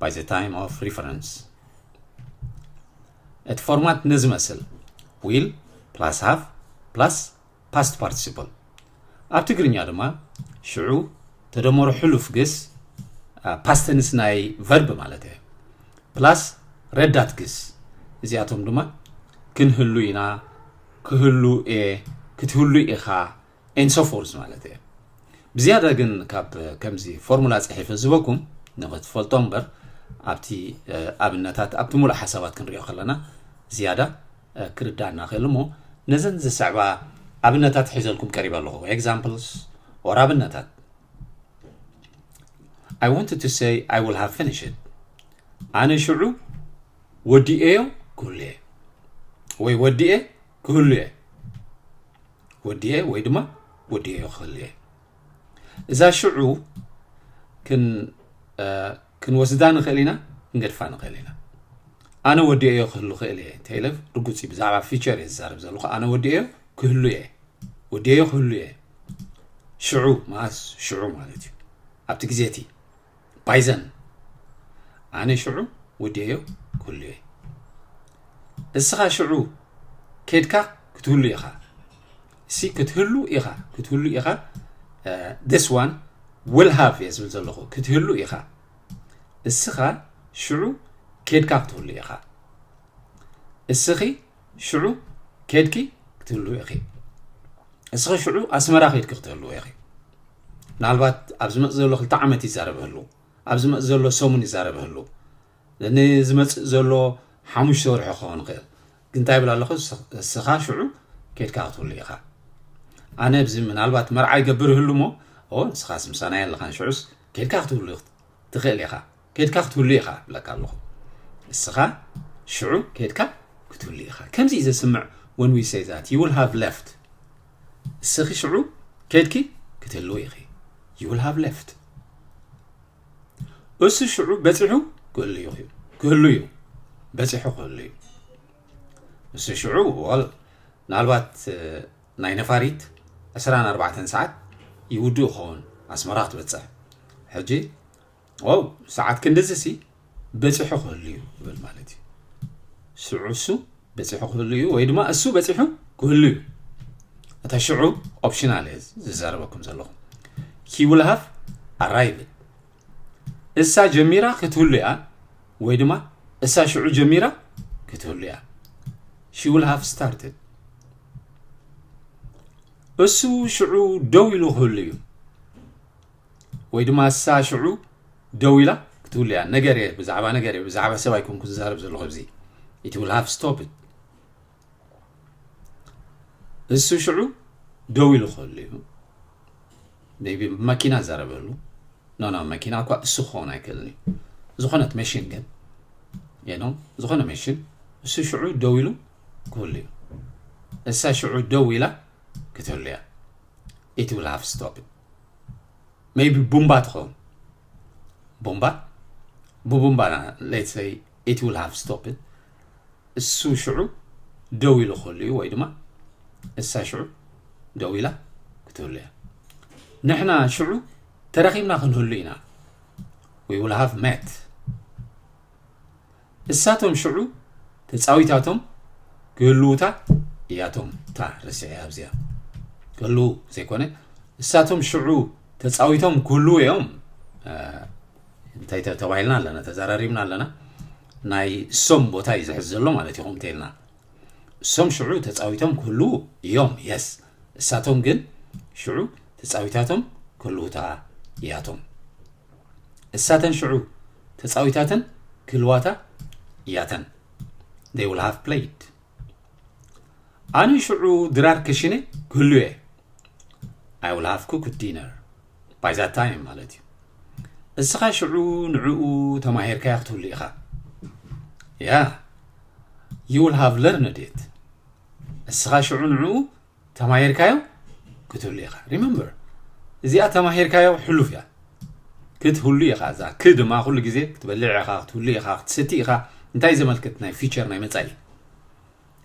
by the time of reference እቲ ፎርማት ነዚ መስል ዊል ፕላስ ሃቭ ፕላስ ፓስት ፓርቲሲፕል ኣብ ትግርኛ ድማ ሽዑ ተደመሮ ሕሉፍ ግስ ፓስተንስ ናይ ቨርብ ማለት እየ ፕላስ ረዳት ግስ እዚኣቶም ድማ ክንህሉ ኢና ክህሉ እየ ክትህሉ ኢኻ and so forth ማለት እየ ብዝያዳ ግን ካብ ከምዚ ፎርሙላ ፅሒፈ ዝበኩም ንክትፈልጦ እምበር ኣብቲ ኣብነታት ኣብቲ ሙሉእ ሓሳባት ክንሪኦ ከለና ዝያዳ ክርዳእና ክእል እሞ ነዘን ዝስዕባ ኣብነታት ሒዘልኩም ቀሪበ ኣለኹ ኤግዛምፕልስ ኦር ኣብነታት I wanted to say I will have finished it. ኣነ ሽዑ ወዲኤዮ ክብሉ እየ ወይ ወዲኤ ክህሉ እየ ወዲኤ ወይ ድማ ወዲኤዮ ክህሉ እየ እዛ ሽዑ ክንወስዳ ንኽእል ኢና ክንገድፋ ንኽእል ኢና ኣነ ወዲኤዮ ክህሉ ክእል እየ እንተኢለ ርጉፅ እዩ ብዛዕባ ፊቸር እየ ዝዛረብ ዘለኹ ኣነ ወዲኤዮ ክህሉ እየ ወዲኤዮ ክህሉ እየ ሽዑ መዓስ ሽዑ ማለት እዩ ኣብቲ ግዜ እቲ ባይዘን ኣነ ሽዑ ወዲኤዮ ክህሉ እየ እስኻ ሽዑ ኬድካ ክትህሉ ኢኻ እሲ ክትህሉ ኢኻ ክትህሉ ኢኻ ስ ዋን ውል ሃቭ እየ ዝብል ዘለኹ ክትህሉ ኢኻ እስኻ ሽዑ ኬድካ ክትህሉ ኢኻ እስኺ ሽዑ ኬድኪ ክትህልው ኢኺ እስኺ ሽዑ ኣስመራ ኬድኪ ክትህልው ኢኺ ምናልባት ኣብ ዝመፅ ዘሎ ክልተ ዓመት ይዛረብ ህሉ ኣብ ዝመፅ ዘሎ ሰሙን ይዛረብ ህሉ ንዝመፅእ ዘሎ ሓሙሽተ ወርሒ ክኸውን ይኽእል ግን እንታይ ይብል ኣለኹ እስኻ ሽዑ ኬድካ ክትህሉ ኢኻ ኣነ ብዚ ምናልባት መርዓ ይገብር ህሉ እሞ ንስኻስ ምሳና የለኻን ሽዑስ ኬድካ ክትህሉ ትኽእል ኢኻ ኬድካ ክትህሉ ኢኻ እብለካ ኣለኹ ንስኻ ሽዑ ኬድካ ክትህሉ ኢኻ ከምዚ እዩ ዘስምዕ when we say that you will have left ንስኺ ሽዑ ኬድኪ ክትህልው ኢኺ you will have left እሱ ሽዑ በፂሑ ክህሉ እዩ ክህሉ እዩ በፂሑ ክህሉ እዩ እሱ ሽዑ ወል ምናልባት ናይ ነፋሪት 24 ሰዓት ይውድእ ይኸውን ኣስመራ ክትበፅሕ ሕጂ ዋው ሰዓት ክንድዚ ሲ በፂሑ ክህሉ እዩ ይብል ማለት እዩ ሽዑ እሱ በፂሑ ክህሉ እዩ ወይ ድማ እሱ በፂሑ ክህሉ እዩ እታ ሽዑ ኦፕሽናል እየ ዝዛረበኩም ዘለኹ ሂ ውል ሃቭ ኣራይቭ እሳ ጀሚራ ክትህሉ እያ ወይ ድማ እሳ ሽዑ ጀሚራ ክትህሉ እያ ሺ ውል ሃቭ ስታርትድ እሱ ሽዑ ደው ኢሉ ክህሉ እዩ ወይ ድማ እሳ ሽዑ ደው ኢላ ክትብሉ እያ ነገር እየ ብዛዕባ ነገር እየ ብዛዕባ ሰብ ኣይኮንኩ ዝዛረብ ዘለኹ እዚ ኢት ዊል ሃቭ ስቶፕ እሱ ሽዑ ደው ኢሉ ከሉ እዩ ቢ መኪና ዘረበሉ ኖኖ መኪና እኳ እሱ ክኸውን ኣይክእልን እዩ ዝኾነት መሽን ግን የኖ ዝኾነ መሽን እሱ ሽዑ ደው ኢሉ ክብሉ እዩ እሳ ሽዑ ደው ኢላ ክትህሉ እያ ኢት ዊል ሃቭ ስቶፕ ሜይቢ ቡምባ ትኸውን ቡምባ ብቡምባ ሌትሰይ ኢት ዊል ሃቭ ስቶፕድ እሱ ሽዑ ደው ኢሉ ከሉ እዩ ወይ ድማ እሳ ሽዑ ደው ኢላ ክትህሉ እያ ንሕና ሽዑ ተረኪብና ክንህሉ ኢና ዊ ዊል ሃቭ ሜት እሳቶም ሽዑ ተጻዊታቶም ክህልዉታ እያቶም እታ ረሲዐ ኣብዚኣ ክህልዉ ዘይኮነ እሳቶም ሽዑ ተጻዊቶም ክህልዉ እዮም እንታይ ተባሂልና ኣለና ተዘራሪብና ኣለና ናይ ሶም ቦታ እዩ ዝሕዝ ዘሎ ማለት ይኹም እንተይልና እሶም ሽዑ ተጻዊቶም ክህልዉ እዮም የስ እሳቶም ግን ሽዑ ተጻዊታቶም ክህልዉታ እያቶም እሳተን ሽዑ ተጻዊታተን ክህልዋታ እያተን they will have played ኣነ ሽዑ ድራር ክሽነ ክህሉ እየ I will have cooked dinner ባይ ዛት ታይም ማለት እዩ እስኻ ሽዑ ንዕኡ ተማሂርካዮ ክትህሉ ኢኻ ያ ዩ ዊል ሃቭ ለርንድ ኢት እስኻ ሽዑ ንዕኡ ተማሂርካዮ ክትህሉ ኢኻ ሪመምበር እዚኣ ተማሂርካዮ ሕሉፍ እያ ክትህሉ ኢኻ እዛ ክ ድማ ኩሉ ግዜ ክትበልዕ ኢኻ ክትህሉ ኢኻ ክትሰቲ ኢኻ እንታይ ዘመልክት ናይ ፊቸር ናይ መፃኢ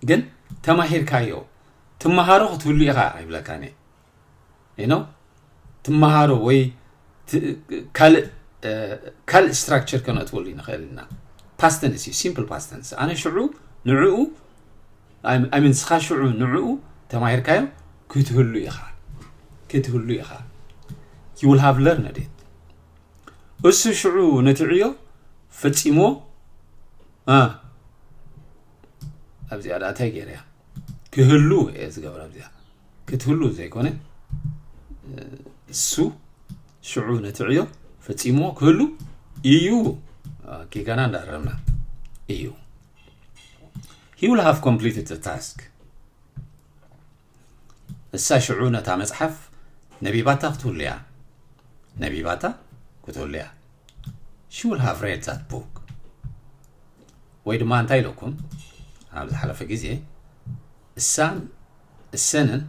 ግን ተማሂርካዮ ትመሃሮ ክትህሉ ኢኻ ይብለካ ትመሃሮ ወይ ካልእ ስትራክቸር ከነእትወሉ ንኽእል ኢና ፓስተንስ እዩ ሲምፕል ፓስተንስ ኣነ ሽዑ ንዕኡ ኣይምን ስኻ ሽዑ ንዕኡ ተማሂርካዮ ክትህሉ ኢኻ ክትህሉ ኢኻ ዩል ሃቭ ለርነድ እሱ ሽዑ ነቲ ዕዮ ፈፂሞ ኣብዚኣ ዳእታይ ገይረ እያ ክህሉ እየ ዝገብረ ኣብዚኣ ክትህሉ ዘይኮነ እሱ ሽዑ ነቲ ዕዮ ፈፂሞ ክህሉ እዩ ጌጋና እንዳረምና እዩ ሂ ዊል ሃቭ ኮምፕሊትድ ዘ ታስክ እሳ ሽዑ ነታ መፅሓፍ ነቢባታ ክትህሉ እያ ነቢባታ ክትህሉ እያ ሺ ዊል ሃቭ ሬድ ዛት ቡክ ወይ ድማ እንታይ ኢለኩም ኣብ ዝሓለፈ ግዜ እሳን እሰንን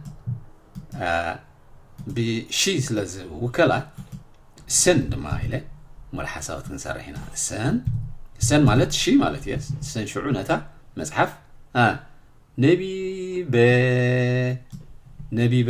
ብሺ ስለ ዝውከላ እሰን ድማ ኢለ ሙሉእ ሓሳባት ክንሰርሕ ኢና እሰን እሰን ማለት ሺ ማለት እየ እሰን ሽዑ ነታ መፅሓፍ ነቢበ ነቢበ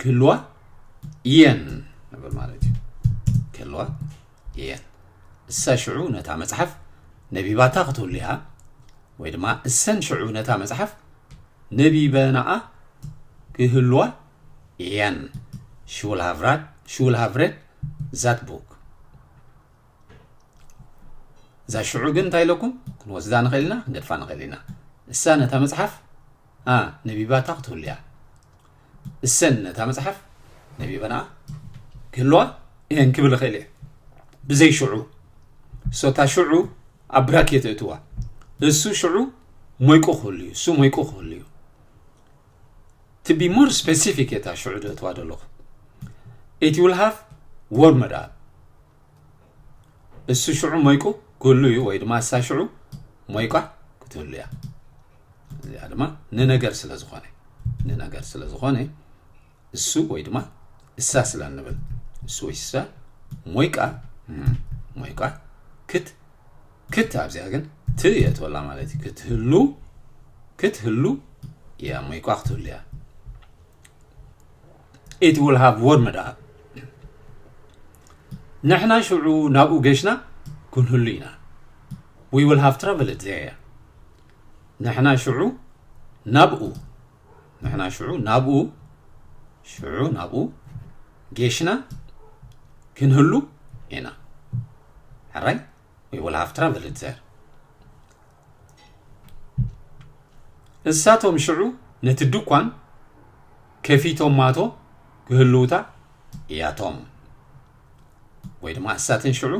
ክህልዋ እየን ንብል ማለት እዩ ክህልዋ እየን እሳ ሽዑ ነታ መጽሓፍ ነቢባታ ክትህሉ እያ ወይ ድማ እሰን ሽዑ ነታ መጽሓፍ ነቢበናኣ ክህልዋ እየን ሽውል ሃቭራድ ሽውል ሃቭሬድ ዛት ቡክ እዛ ሽዑ ግን እንታይ ኢለኩም ክንወስዳ ንኽእል ኢና ክንገድፋ ንኽእል ኢና እሳ ነታ መጽሓፍ a ነቢባታ ክትህሉ እያ። እሰን ነታ መጽሓፍ ነቢበናኣ ክህልዋ እየን ክብል እኽእል እየ። ብዘይ ሽዑ እሶታ ሽዑ ኣብ ብራክ እየ ተእትዋ እሱ ሽዑ ሞይቁ ክህሉ እዩ እሱ ሞይቁ ክህሉ እዩ to be more specific እየ እታ ሽዑ ደእትዋ ዘለኹ it will have warmed up እሱ ሽዑ ሞይቁ ክህሉ እዩ ወይ ድማ እሳ ሽዑ ሞይቋ ክትህሉ እያ እዚኣ ድማ ንነገር ስለ ዝኾነ ንነገር ስለ ዝኾነ እሱ ወይ ድማ እሳ ስለ እንብል እሱ ወይ እሳ ሞይቃ ሞይቃ ክት ክት ኣብዚኣ ግን ት የእትወላ ማለት እዩ ክትህሉ ክትህሉ እያ ሞይቋ ክትህሉ እያ it will have warm it up ንሕና ሽዑ ናብኡ ገሽና ክንህሉ ኢና we will have traveled there ንሕና ሽዑ ናብኡ ንሕና ሽዑ ናብኡ ሽዑ ናብኡ ጌሽና ክንህሉ ኢና ሕራይ we will have travel there እሳቶም ሽዑ ነቲ ድኳን ከፊቶማቶ ክህልውታ እያቶም ወይ ድማ እሳተን ሽዑ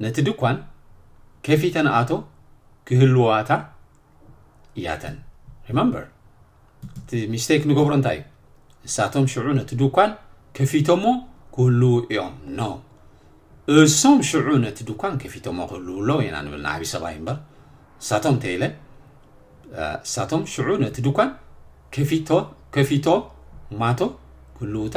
ነቲ ድኳን ከፊተን ኣቶ ክህልዋታ እያተን ሪመምበር እቲ ሚስቴክ ንገብሮ እንታይ እዩ እሳቶም ሽዑ ነቲ ድኳን ከፊቶሞ ክህልው እዮም ኖ እሶም ሽዑ ነቲ ድኳን ከፊቶሞ ክህልው ኣለዎ ኢና ንብል ንዓብዪ ሰብኣይ እምበር እሳቶም ተይለ እሳቶም ሽዑ ነቲ ድኳን ከፊቶ ከፊቶ ማቶ ክህልውታ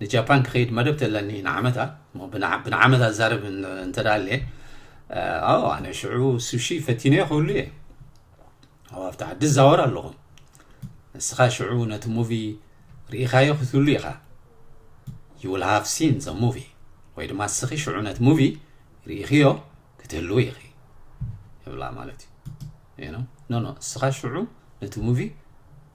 ንጃፓን ክኸይድ መደብት ኣለኒ ንዓመታ እሞ ብንዓመታ ዝዛረብ እንተ ኣለ ኣዎ ኣነ ሽዑ ሱሺ ፈቲነዮ ክብሉ እየ ኣብ ኣብቲ ዓዲ ዝዛወር ኣለኹ ንስኻ ሽዑ ነቲ ሙቪ ርኢኻዮ ክትብሉ ኢኻ ዩ ዊል ሃቭ ሲን ዘ ሙቪ ወይ ድማ እስኺ ሽዑ ነቲ ሙቪ ርኢኽዮ ክትህልው ኢኺ ይብላ ማለት እዩ ኖ ኖ እስኻ ሽዑ ነቲ ሙቪ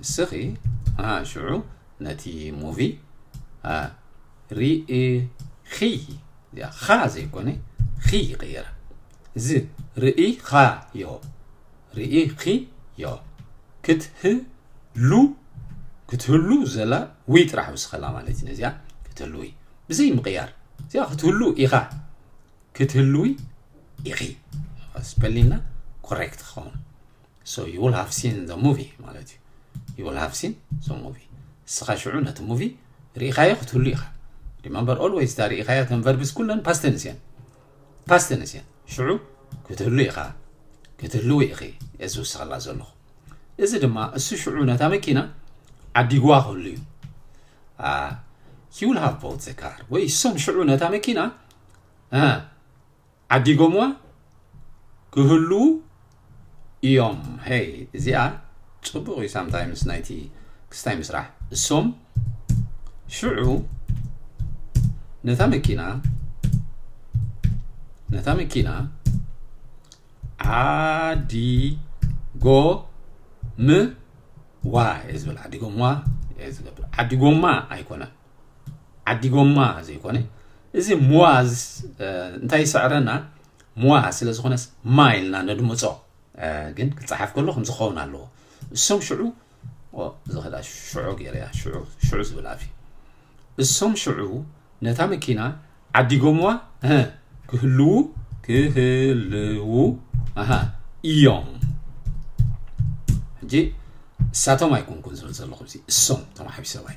ንስኺ ሽዑ ነቲ ሙቪ ርኢኺ እዚኣ ኻ ዘይኮነ ኺ ይቕየራ እዚ ርኢኻ ዮ ርኢኺ ዮ ክትህሉ ክትህሉ ዘላ ውይ ጥራሕ ውስኸላ ማለት እዩ ነዚኣ ክትህልዊ ብዘይ ምቕያር እዚኣ ክትህሉ ኢኻ ክትህልዊ ኢኺ ስፐሊና ኮሬክት ክኸውን So you will have seen the movie ማለት እዩ you will have seen the movie ንስኻ ሽዑ ነቲ ሙቪ ርኢኻዮ ክትህሉ ኢኻ ሪመምበር ኦልዌይስ እታ ርኢኻዮ ተን ቨርብስ ኩለን ፓስተንስ እየን ፓስተንስ እየን ሽዑ ክትህሉ ኢኻ ክትህልዊ ኢኺ እዚ ውስኸላ ዘለኹ እዚ ድማ እሱ ሽዑ ነታ መኪና ዓዲግዋ ክህሉ እዩ ሂውል ሃቭ ቦት ዘካር ወይ እሶም ሽዑ ነታ መኪና ዓዲጎምዋ ክህልዉ ኢዮም ሄይ እዚኣ ጽቡቅ እዩ ሳምታይምስ ናይቲ ክስታይ ምስራሕ እሶም ሽዑ ነታ መኪና ነታ መኪና ዓዲጎ ም ዋ እየ ዝብል ዓዲጎምዋ እየ ዝብል ዓዲጎማ ኣይኮነን ዓዲ ጎማ ዘይኮነ እዚ ሙዋዝ እንታይ ይስዕረና ሙዋ ስለ ዝኾነስ ማ ኢልና ነድምፆ ግን ክፀሓፍ ከሎ ከምዚ ክኸውን ኣለዎ እሶም ሽዑ ዝኸዳ ሽዑ ገይረያ ሽዑ ሽዑ ዝብል ኣፍ እሶም ሽዑ ነታ መኪና ዓዲጎምዋ ክህልዉ ክህልዉ ኣሃ እዮም ሕጂ እሳቶም ኣይኮንኩን ዝብል ዘለኹ እዚ እሶም ተማሓቢ ሰባይ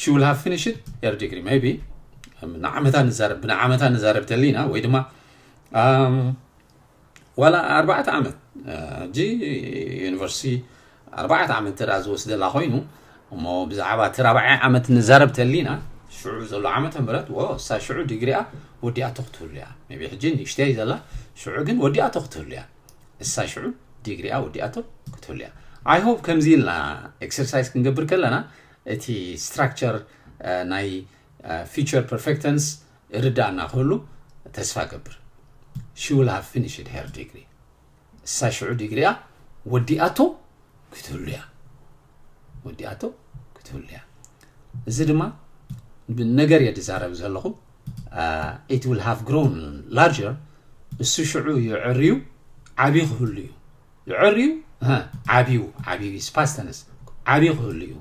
ሽውል ሃፍ ፊኒሽድ የር ዲግሪ ቢ ንዓመታ ንዛረብ ብንዓመታ ንዛረብ ተሊና ወይ ድማ ዋላ ኣርባዕተ ዓመት ሕጂ ዩኒቨርሲቲ ኣርባዕተ ዓመት ተዳ ዝወስደላ ኮይኑ እሞ ብዛዕባ እቲ ራብዓይ ዓመት ንዛረብ ተሊና ሽዑ ዘሎ ዓመተ ምረት ወሳ ሽዑ ዲግሪኣ ወዲኣ ተኽትህሉ እያ ቢ ሕጂ ንእሽተይ ዘላ ሽዑ ግን ወዲኣ ተኽትህሉ እያ እሳ ሽዑ ዲግሪኣ ወዲኣቶ ክትህሉ እያ ኣይ ሆፕ ከምዚ ኢልና ኤክሰርሳይዝ ክንገብር ከለና እቲ ስትራክቸር ናይ ፊቸር ፐርፌክተንስ ርዳእና ክህሉ ተስፋ ገብር ሺ ውል ሃቭ ፊኒሽድ ሄር ዲግሪ እሳ ሽዑ ዲግሪኣ ወዲኣቶ ክትህሉ እያ ወዲኣቶ ክትህሉ እያ እዚ ድማ ነገር እየ ዝዛረብ ዘለኹ ኢት ዊል ሃቭ ግሮን ላርጀር እሱ ሽዑ ይዕርዩ ዓብዩ ክህሉ እዩ ይዕርዩ ዓብዩ ዓብዩ ስፓስተንስ ዓብዩ ክህሉ እዩ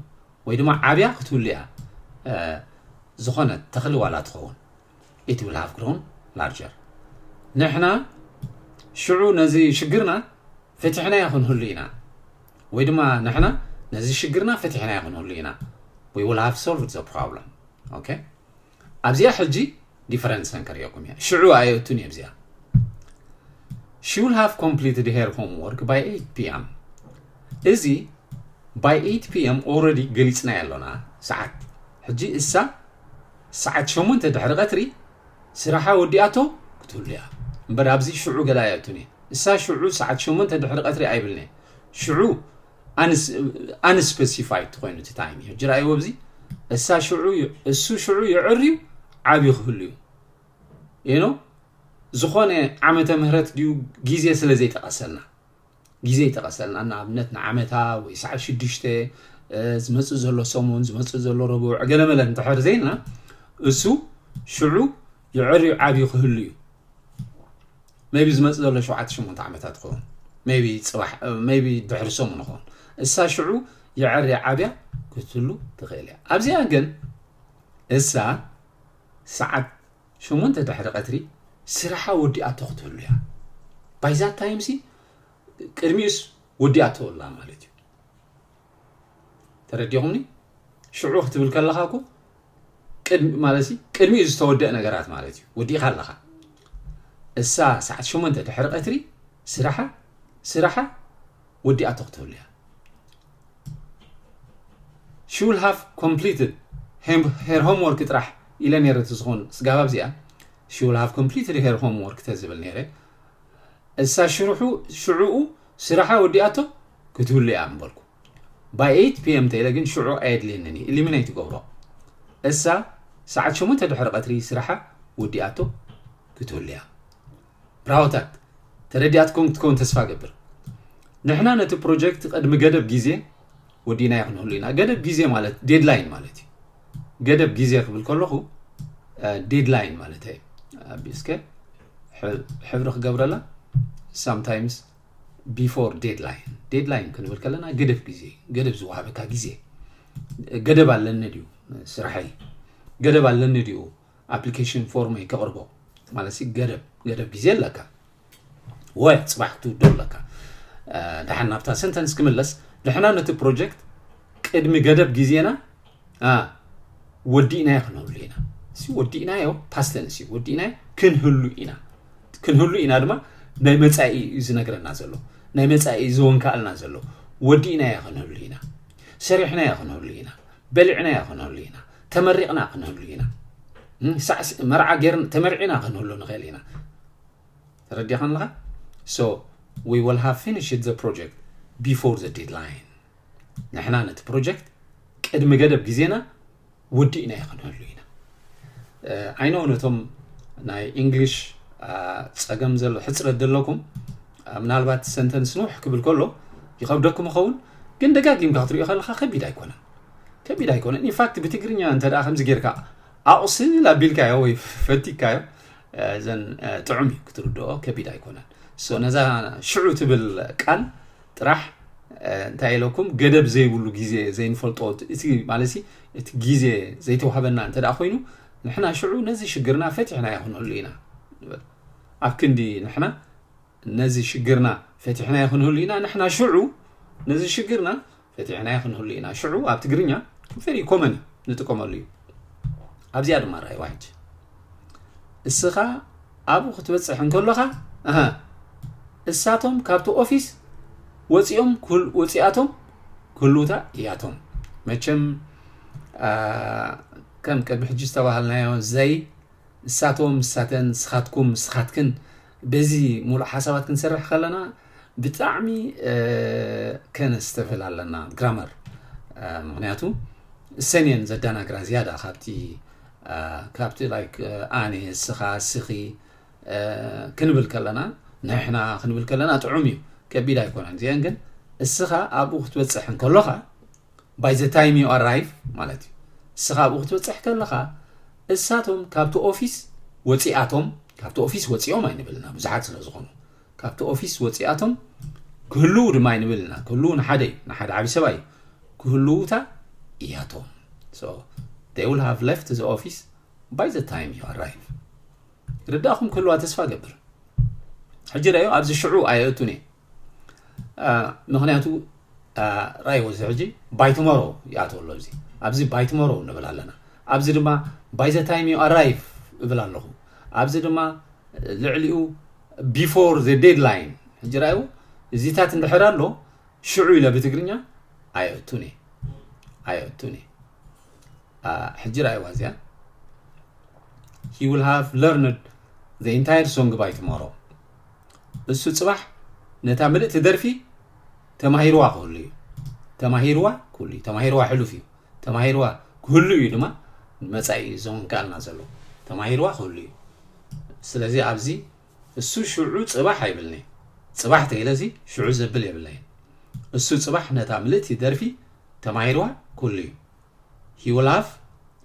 ወይ ድማ ዓብያ ክትህሉ እያ ዝኾነ ተኽሊ ዋላ ትኸውን ኢት ዊል ሃቭ ግሮን ላርጀር ንሕና ሽዑ ነዚ ሽግርና ፈቲሕናዮ ክንህሉ ኢና ወይ ድማ ንሕና ነዚ ሽግርና ፈቲሕናዮ ክንህሉ ኢና ዊ ዊል ሃቭ ሶልቭድ ዘ ፕሮብለም ኦኬ ኣብዚኣ ሕጂ ዲፈረንስ ከንከርእየኩም እያ ሽዑ ኣየእቱን እየ ኣብዚኣ ሺ ዊል ሃቭ ኮምፕሊትድ ሄር ሆምወርክ ባይ 8 ፒኤም እዚ ባይ 8 ፒኤም ኦልሬዲ ገሊፅናዮ ኣሎና ሰዓት ሕጂ እሳ ሰዓት ሸሞንተ ድሕሪ ቀትሪ ስራሓ ወዲኣቶ ክትህሉ እያ። እምበር ኣብዚ ሽዑ ገለ ኣይኣቱን እየ። እሳ ሽዑ ሰዓት ሸሞንተ ድሕሪ ቀትሪ ኣይብልን እየ። ሽዑ ኣንስፐሲፋይድ ትኮይኑ እቲ ታይም እዩ። ሕጂ ርኣይዎ ኣብዚ እሳ ሽዑ እሱ ሽዑ ይዕርዩ ዓብዩ ክህሉ እዩ። ይኖ ዝኾነ ዓመተ ምህረት ድዩ ግዜ ስለ ዘይጠቐሰልና ግዜ ይጠቐሰልና ንኣብነት ንዓመታ ወይ ሰዓት ሽዱሽተ ዝመፅእ ዘሎ ሰሙን ዝመፅእ ዘሎ ረቡዕ ዕገለመለ እንተሕር ዘይልና እሱ ሽዑ ይዕርዩ ዓብዩ ክህሉ እዩ ቢ ዝመፅ ዘሎ ሸዓተ ሸሞንተ ዓመታት ኸውን ቢ ፅባሕ ቢ ድሕሪ ሰሙን ኸውን እሳ ሽዑ ይዕር ዓብያ ክትህሉ ትኽእል እያ ኣብዚኣ ግን እሳ ሰዓት ሸሞንተ ድሕሪ ቀትሪ ስራሓ ወዲኣቶ ክትህሉ እያ ባይ ዛት ታይም ሲ ቅድሚኡስ ወዲኣቶ ኣላ ማለት እዩ ተረዲኹምኒ ሽዑ ክትብል ከለኻ እኮ ማለት ቅድሚኡ ዝተወደእ ነገራት ማለት እዩ ወዲእኻ ኣለኻ እሳ ሰዓት ሸሞንተ ድሕሪ ቀትሪ ስራሓ ስራሓ ወዲኣቶ ክትህሉ እያ ሹል ሃቭ ኮምፕሊትድ ሄር ሆም ወርክ ጥራሕ ኢለ ነይረ እቲ ዝኾኑ ስጋባ ኣብዚኣ ሹል ሃቭ ኮምፕሊትድ ሄር ሆም ወርክ ተዝብል ነይረ እሳ ሽርሑ ሽዕኡ ስራሓ ወዲኣቶ ክትህሉ እያ ምበልኩ ባይ 8 ፒኤም ተኢለ ግን ሽዑ ኣየድልየንን እዩ ኢሊሚነይ ትገብሮ እሳ ሰዓት ሸሞንተ ድሕሪ ቀትሪ ስራሓ ወዲኣቶ ክትህሉ እያ ብራሆታት ተረዲኣትኩም ክትከውን ተስፋ ገብር ንሕና ነቲ ፕሮጀክት ቅድሚ ገደብ ግዜ ወዲናዮ ክንህሉ ኢና ገደብ ግዜ ማለት ዴድላይን ማለት እዩ ገደብ ግዜ ክብል ከለኹ ዴድላይን ማለት እዩ ኣቢስከ ሕብሪ ክገብረላ ሳምታይምስ ቢፎር ዴድላይን ዴድላይን ክንብል ከለና ገደብ ግዜ ገደብ ዝወሃበካ ግዜ ገደብ ኣለኒ ድዩ ስራሐይ ገደብ ኣለኒ ድዩ ኣፕሊኬሽን ፎርም እይ ተቕርቦ ማለት ገደብ ገደብ ግዜ ኣለካ ወይ ፅባሕ ክትውድኦ ኣለካ ድሓን ናብታ ሰንተንስ ክምለስ ንሕና ነቲ ፕሮጀክት ቅድሚ ገደብ ግዜና ወዲእናዮ ክንህሉ ኢና እዚ ወዲእናዮ ፓስተንስ እዩ ወዲእናዮ ክንህሉ ኢና ክንህሉ ኢና ድማ ናይ መፃኢ እዩ ዝነግረና ዘሎ ናይ መፃኢ ዝወንካኣልና ዘሎ ወዲእናዮ ክንህሉ ኢና ሰሪሕናዮ ክንህሉ ኢና በሊዕናዮ ክንህሉ ኢና ተመሪቕና ክንህሉ ኢና ሳዕስ መርዓ ጌርና ተመርዒና ክንህሉ ንኽእል ኢና ተረዲኻ ኣለኻ ሶ ዊ ወል ሃቭ ፊኒሽድ ዘ ፕሮጀክት ቢፎር ዘ ዴድላይን ንሕና ነቲ ፕሮጀክት ቅድሚ ገደብ ግዜና ወዲእና ይኽንህሉ ኢና ዓይኖ ነቶም ናይ እንግሊሽ ፀገም ዘሎ ሕፅረት ዘለኩም ምናልባት ሰንተንስ ንውሕ ክብል ከሎ ይኸብደኩም ይኸውን ግን ደጋጊምካ ክትሪኦ ከለካ ከቢድ ኣይኮነን ከቢድ ኣይኮነን ኢንፋክት ብትግርኛ እንተ ከምዚ ጌርካ ኣቑስል ኣቢልካዮ ወይ ፈቲካዮ ዘን ጥዑም እዩ ክትርድኦ ከቢድ ኣይኮነን ሶ ነዛ ሽዑ ትብል ቃል ጥራሕ እንታይ ኢለኩም ገደብ ዘይብሉ ግዜ ዘይንፈልጦ እቲ ማለት እቲ ግዜ ዘይተዋህበና እንተ ኮይኑ ንሕና ሽዑ ነዚ ሽግርና ፈትሕና ይኹነሉ ኢና ኣብ ክንዲ ንሕና ነዚ ሽግርና ፈትሕና ይኹነሉ ኢና ንሕና ሽዑ ነዚ ሽግርና ፈቲሕናዮ ክንህሉ ኢና ሽዑ ኣብ ትግርኛ ቨሪ ኮመን እዩ ንጥቀመሉ እዩ ኣብዚኣ ድማ ርኣይዋ ሕጂ እስኻ ኣብኡ ክትበፅሕ እንከሎኻ እሳቶም ካብቲ ኦፊስ ወፂኦም ወፂኣቶም ክህልውታ እያቶም መቸም ከም ቅድሚ ሕጂ ዝተባሃልናዮ ዘይ እሳቶም እሳተን ስኻትኩም ስኻትክን በዚ ሙሉእ ሓሳባት ክንሰርሕ ከለና ብጣዕሚ ከነስተብህል ኣለና ግራመር ምክንያቱ እሰን እየን ዘዳናግራ ዝያዳ ካብቲ ካብቲ ላይክ ኣነ እስኻ እስኺ ክንብል ከለና ንሕና ክንብል ከለና ጥዑም እዩ ከቢድ ኣይኮነን እዚአን ግን እስኻ ኣብኡ ክትበፅሕ እንከሎኻ ባይ ዘ ታይም ዩ ኣራይቭ ማለት እዩ እስኻ ኣብኡ ክትበፅሕ ከለኻ እሳቶም ካብቲ ኦፊስ ወፂኣቶም ካብቲ ኦፊስ ወፂኦም ኣይንብልና ብዙሓት ስለ ዝኾኑ ካብቲ ኦፊስ ወጺኣቶም ክህልዉ ድማ ይንብል እና ክህልዉ ንሓደ እዩ ንሓደ ዓብዪ ሰብኣይ እዩ ክህልዉታ እያቶም so they will have left the office by the time you arrive ርዳእኹም ክህልዋ ተስፋ ገብር ሕጂ ረዮ ኣብዚ ሽዑ ኣየእቱን እየ ምክንያቱ ራይ ወዚ ሕጂ ባይትመሮ ይኣቶ ኣሎ እዚ ኣብዚ ባይትመሮ ንብል ኣለና ኣብዚ ድማ ባይ ዘ ታይም ዩ ኣራይቭ እብል ኣለኹ ኣብዚ ድማ ልዕሊኡ ቢፎር ዘ ዴድላይን ሕጂ ርኣይዎ እዚታት እንድሕር ኣሎ ሽዑ ኢለ ብትግርኛ ኣየእቱን እየ ኣየእቱን እየ ሕጂ ርኣይዋ እዚኣ ሂ ዊል ሃቭ ለርንድ ዘ ኢንታየር ሶንግ ባይ ትሞሮ እሱ ፅባሕ ነታ ምልእቲ ደርፊ ተማሂርዋ ክህሉ እዩ ተማሂርዋ ክህሉ እዩ ተማሂርዋ ሕሉፍ እዩ ተማሂርዋ ክህሉ እዩ ድማ መፃኢ እዩ ዞንካልና ዘሎ ተማሂርዋ ክህሉ እዩ ስለዚ ኣብዚ እሱ ሽዑ ጽባሕ ኣይብልን'የ ጽባሕ ተይለሲ ሽዑ ዘብል የብለይን እሱ ጽባሕ ነታ ምልእቲ ደርፊ ተማሂርዋ ኩሉ'ዩ he will have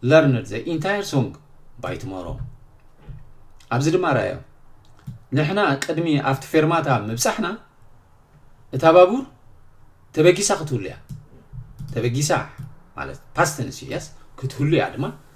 learned the entire song by tomorrow ኣብዚ ድማ ርኣዮ ንሕና ቅድሚ ኣብቲ ፌርማታ ምብጻሕና እታ ባቡር ተበጊሳ ክትህሉ እያ ተበጊሳ ማለት ፓስትንስ እዩ የስ ክትህሉ እያ ድማ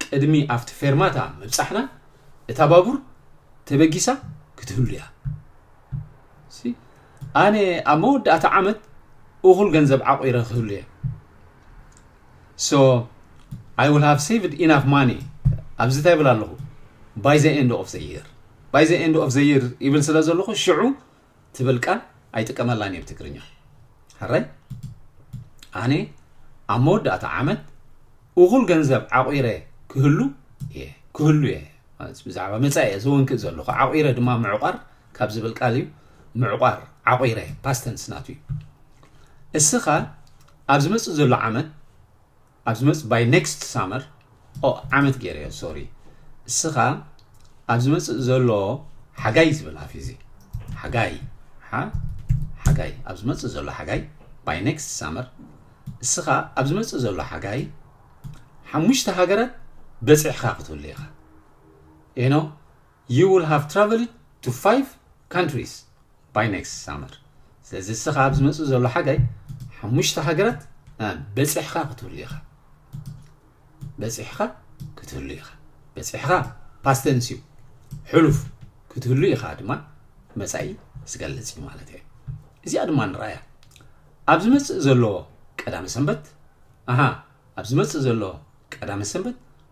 ቅድሚ ኣብቲ ፌርማታ ምብጻሕና እታ ባቡር ተበጊሳ ክትህሉ እያ። ኣነ ኣብ መወዳእታ ዓመት እኹል ገንዘብ ዓቑረ ክህሉ እየ። ሶ ኣይ ዊል ሃቭ ሴቭድ ኢናፍ ማኒ ኣብዚ እንታይ ይብል ኣለኹ ባይ ዘ ኤንድ ኦፍ ዘ ይር ባይ ዘ ኤንድ ኦፍ ዘ ይር ይብል ስለ ዘለኹ ሽዑ ትብል ቃል ኣይጥቀመላን እየ ብትግርኛ ሕራይ ኣነ ኣብ መወዳእታ ዓመት እኹል ገንዘብ ዓቑረ ክህሉ እየ ክህሉ እየ ብዛዕባ መፃኢ እየ ዝወንክእ ዘለኹ ዓቑረ ድማ ምዕቋር ካብ ዝብል ቃል እዩ ምዕቋር ዓቑረ ፓስተንስ ናቱ እዩ እስኻ ኣብ ዝመፅእ ዘሎ ዓመት ኣብ ዝመጽእ by next summer ኦህ ዓመት ጌረዮ ሶሪ እስኻ ኣብ ዝመጽእ ዘሎ ሓጋይ ዝብል ኣፊዚ ሓጋይ ሓ ሓጋይ ኣብ ዝመጽእ ዘሎ ሓጋይ by next summer እስኻ ኣብ ዝመጽእ ዘሎ ሓጋይ ሓሙሽተ ሃገራት በጺሕኻ ክትህሉ ኢኻ you know You will have traveled to five countries by next summer ስለዚ እስኻ ኣብ ዝመጽእ ዘሎ ሓጋይ ሓሙሽተ ሃገራት በጺሕኻ ክትህሉ ኢኻ በጺሕኻ ክትህሉ ኢኻ በጺሕኻ ፓስተንስ እዩ ሕሉፍ ክትህሉ ኢኻ ድማ መጻኢ ዝገልጽ እዩ ማለት እዩ እዚኣ ድማ ንረኣያ ኣብ ዝመጽእ ዘሎ ቀዳመ ሰንበት ኣሃ ኣብ ዝመጽእ ዘሎ ቀዳመ ሰንበት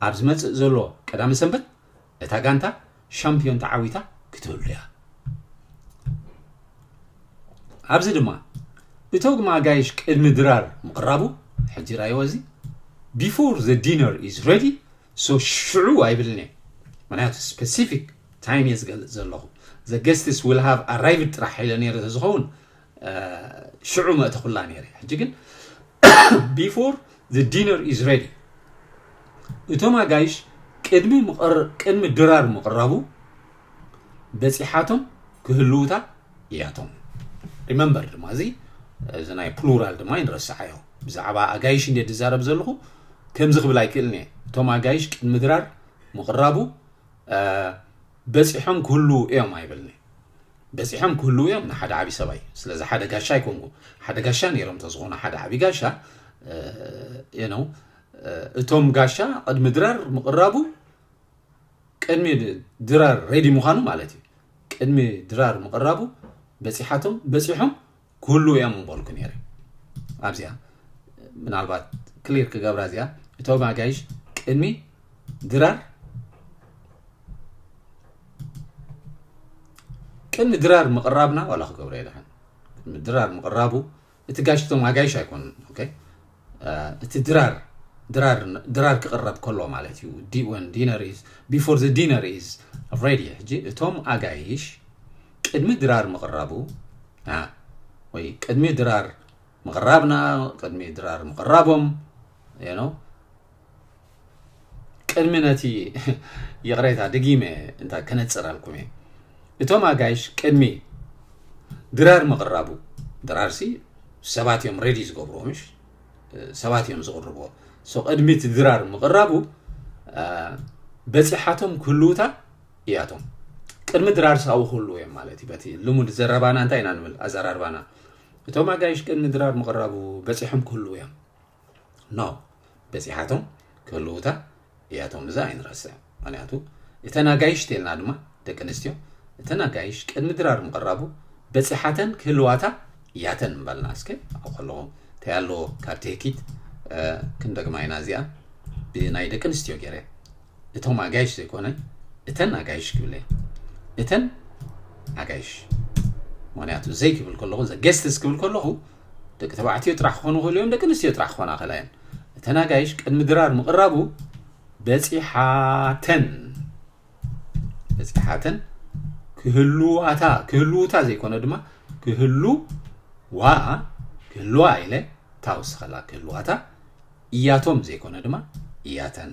ኣብ ዝመጽእ ዘሎ ቀዳመ ሰንበት እታ ጋንታ ሻምፕዮን ተዓዊታ ክትህሉ እያ። ኣብዚ ድማ እቶግማ ኣጋይሽ ቅድሚ ድራር ምቕራቡ ሕጂ ራይዎ እዚ ቢፎር ዘ ዲነር ኢዝ ረዲ ሶ ሽዑ ኣይብልን እየ ምክንያቱ ስፔሲፊክ ታይም እየ ዝገልፅ ዘለኹ ዘ ገስትስ ዊል ሃቭ ኣራይቭድ ጥራሕ ኢለ ነይረ ዝኸውን ሽዑ መእተኹላ ነይረ ሕጂ ግን ቢፎር ዘ ዲነር ኢዝ ሬዲ እቶም ኣጋይሽ ቅድሚ ቅድሚ ድራር ምቕራቡ በፂሓቶም ክህልውታ እያቶም ሪመምበር ድማ እዚ እዚ ናይ ፕሉራል ድማ ይንረስዓዮ ብዛዕባ ኣጋይሽ እንደ ዝዛረብ ዘለኹ ከምዚ ክብል ኣይክእልን እየ እቶም ኣጋይሽ ቅድሚ ድራር ምቕራቡ በጺሖም ክህልዉ እዮም ኣይበልን'የ በጺሖም ክህልዉ እዮም ንሓደ ዓቢ ሰብኣይ ስለዚ ሓደ ጋሻ ኣይኮንኩ ሓደ ጋሻ ነይሮም ተዝኾኑ ሓደ ዓቢ ጋሻ የነው እቶም ጋሻ ቅድሚ ድራር ምቕራቡ ቅድሚ ድራር ሬዲ ምዃኑ ማለት እዩ ቅድሚ ድራር ምቕራቡ በጺሓቶም በጺሖም ክህልው እዮም ምበልኩ ነይረ ኣብዚኣ ምናልባት ክሊር ክገብራ እዚኣ እቶም ኣጋይሽ ቅድሚ ድራር ቅድሚ ድራር ምቕራብና ዋላ ክገብረ የድሓን ቅድሚ ድራር ምቕራቡ እቲ ጋይሽ እቶም ኣጋይሽ ኣይኮኑን እቲ ድራር ድራር ድራር ክቕረብ ከሎ ማለት እዩ ዲ ወን ዲነር ኢዝ ቢፎር ዘ ዲነር ኢዝ ሬዲ ሕጂ እቶም ኣጋይሽ ቅድሚ ድራር ምቕራቡ ወይ ቅድሚ ድራር ምቕራብና ቅድሚ ድራር ምቕራቦም ነው ቅድሚ ነቲ ይቕሬታ ድጊመ እንታይ ከነጽረልኩም እየ እቶም ኣጋይሽ ቅድሚ ድራር ምቕራቡ ድራርሲ ሰባት እዮም ሬዲ ዝገብርዎ ምሽ ሰባት እዮም ዝቕርብዎ ሶ ቅድሚ እቲ ድራር ምቕራቡ በፂሓቶም ክህልውታ እያቶም ቅድሚ ድራር ሳዊ ክህልው እዮም ማለት እዩ በቲ ልሙድ ዘረባና እንታይ ኢና ንብል ኣዘራርባና እቶም ኣጋይሽ ቅድሚ ድራር ምቕራቡ በፂሖም ክህልው እዮም ን በጺሓቶም ክህልዉታ እያቶም እዛ ኣይንረስዕ ምክንያቱ እተን ኣጋይሽ ተልና ድማ ደቂ ኣንስትዮ እተን ኣጋይሽ ቅድሚ ድራር ምቕራቡ በጺሓተን ክህልዋታ እያተን ምበልና እስከ ኣብ ከለኹ እንታይ ኣለዎ ካብ ትህኪት ክንደግማ ኢና እዚኣ ብናይ ደቂ ኣንስትዮ ገይረ እቶም ኣጋይሽ ዘይኮነ እተን ኣጋይሽ ክብለ እተን ኣጋይሽ ምክንያቱ ዘይክብል ከለኹ ዘ ገስትስ ክብል ከለኹ ደቂ ተባዕትዮ ጥራሕ ክኾኑ ይኽእሉ እዮም ደቂ ኣንስትዮ ጥራሕ ክኾና ይኽእላ እየን እተን ኣጋይሽ ቅድሚ ድራር ምቕራቡ በፂሓተን በፂሓተን ክህልዋታ ክህልውታ ዘይኮነ ድማ ክህልዋ ክህልዋ ኢለ እታ ወስኸላ ክህልዋታ እያቶም ዘይኮነ ድማ እያተን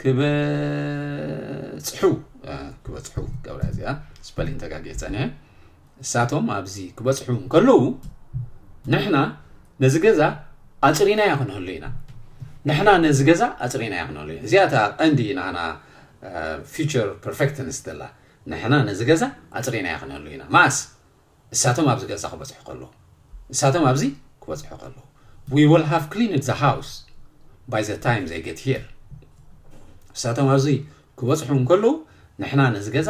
ክበፅሑ ክበፅሑ ገብረ እዚኣ ስፐሊን ተጋጊየ ፀኒሐ እሳቶም ኣብዚ ክበፅሑ እንከለዉ ንሕና ነዚ ገዛ ኣፅሪናያ ክንህሉ ኢና ንሕና ነዚ ገዛ ኣፅሪናያ ክንህሉ ኢና እዚኣ እታ ቀንዲ ናና ፊቸር ፐርፌክትንስ ዘላ ንሕና ነዚ ገዛ ኣፅሪናያ ክንህሉ ኢና ማእስ ንሳቶም ኣብዚ ገዛ ክበጽሑ ከለዉ፣ ንሳቶም ኣብዚ ክበጽሑ ከለዉ፣ We will have cleaned the house by the time they get here ንሳቶም ኣብዚ ክበጽሑ እንከለዉ፣ ንሕና ነዚ ገዛ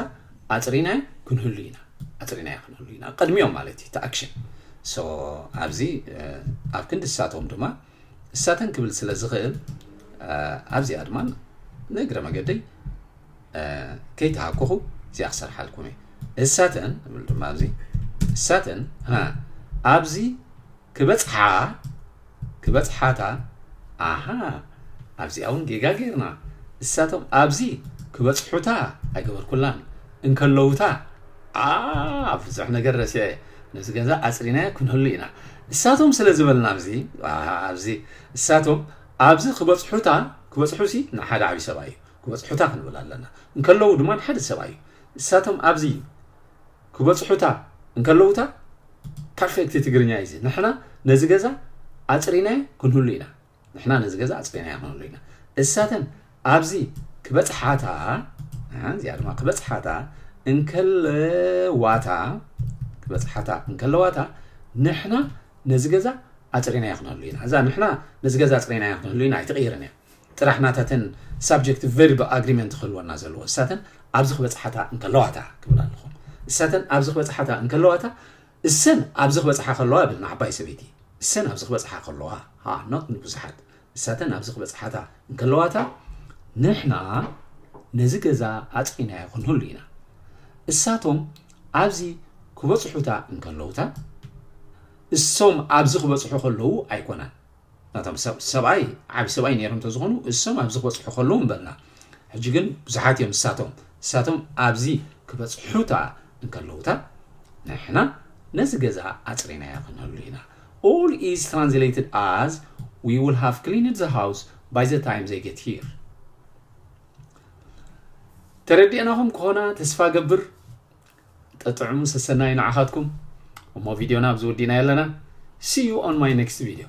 ኣጽሪናዮ ክንህሉ ኢና፣ ኣጽሪናዮ ክንህሉ ኢና፣ ቅድሚኦም ማለት እዩ እቲ ኣክሽን። ሶ ኣብዚ ኣብ ክንዲ ንሳቶም ድማ እሳተን ክብል ስለ ዝኽእል ኣብዚኣ ድማ ንእግረ መገደይ ከይተሃኮኹ እዚኣ ክሰርሓልኩም እየ እሳተን እብል ድማ ኣብዚ እሳተን ኣብዚ ክበፅሓ ክበፅሓታ ኣሃ ኣብዚኣ እውን ጌጋ ጌርና እሳቶም ኣብዚ ክበፅሑታ ኣይገበርኩላን እንከለውታ ብዙሕ ነገር ረሲዐ ነዚ ገዛ ኣጽሪናዮ ክንህሉ ኢና እሳቶም ስለ ዝበልና ኣብዚ ኣብዚ እሳቶም ኣብዚ ክበጽሑታ ክበጽሑሲ ንሓደ ዓቢ ሰብኣይ እዩ ክበጽሑታ ክንብል ኣለና እንከለዉ ድማ ንሓደ ሰብኣይ እዩ እሳቶም ኣብዚ ክበጽሑታ እንከለዉታ ፐርፌክት ትግርኛ እዩ እዚ ንሕና ነዚ ገዛ ኣጽሪናዮ ክንህሉ ኢና ንሕና ነዚ ገዛ ኣጽሪናዮ ክንብሉ ኢና እሳተን ኣብዚ ክበጽሓታ እዚኣ ድማ ክበጽሓታ እንከለዋታ ክበጽሓታ እንከለዋታ ንሕና ነዚ ገዛ ኣጽሪናዮ ክንህሉ ኢና እዛ ንሕና ነዚ ገዛ ኣጽሪናዮ ክንህሉ ኢና ኣይትቕይርን እያ ጥራሕ ናታተን ሳብጀክት ቨርብ ኣግሪመንት ክህልወና ዘለዎ እሳተን ኣብዚ ክበፅሓታ እንከለዋታ ክብል ኣለኹ እሳተን ኣብዚ ክበፅሓታ እንከለዋታ እሰን ኣብዚ ክበጽሓ ከለዋ እብል ንዓባይ ሰበይቲ እሰን ኣብዚ ክበጽሓ ከለዋ ha not ንብዙሓት ንሳተን ኣብዚ ክበጽሓታ እንከለዋታ ንሕና ነዚ ገዛ ኣጽሪናዮ ክንህሉ ኢና እሳቶም ኣብዚ ክበጽሑታ እንከለውታ እሶም ኣብዚ ክበጽሑ ከለዉ ኣይኮናን ናቶም ሰብ ሰብኣይ ዓቢ ሰብኣይ ነይሮም ተዝኾኑ እሶም ኣብዚ ክበጽሑ ከለዉ ምበልና ሕጂ ግን ብዙሓት እዮም ንሳቶም ንሳቶም ኣብዚ ክበጽሑታ እንከለዉታ ንሕና ነዚ ገዛ ኣጽሪናዮ ክንህሉ ኢና all is translated as we will have cleaned the house by the time they get here ተረዲእናኹም ከሆና ተስፋ ገብር ጠጥዕሙ ሰሰናዩ ንዓኻትኩም እሞ ቪድዮና ኣብዚ ወዲና ኣለና see you on my next video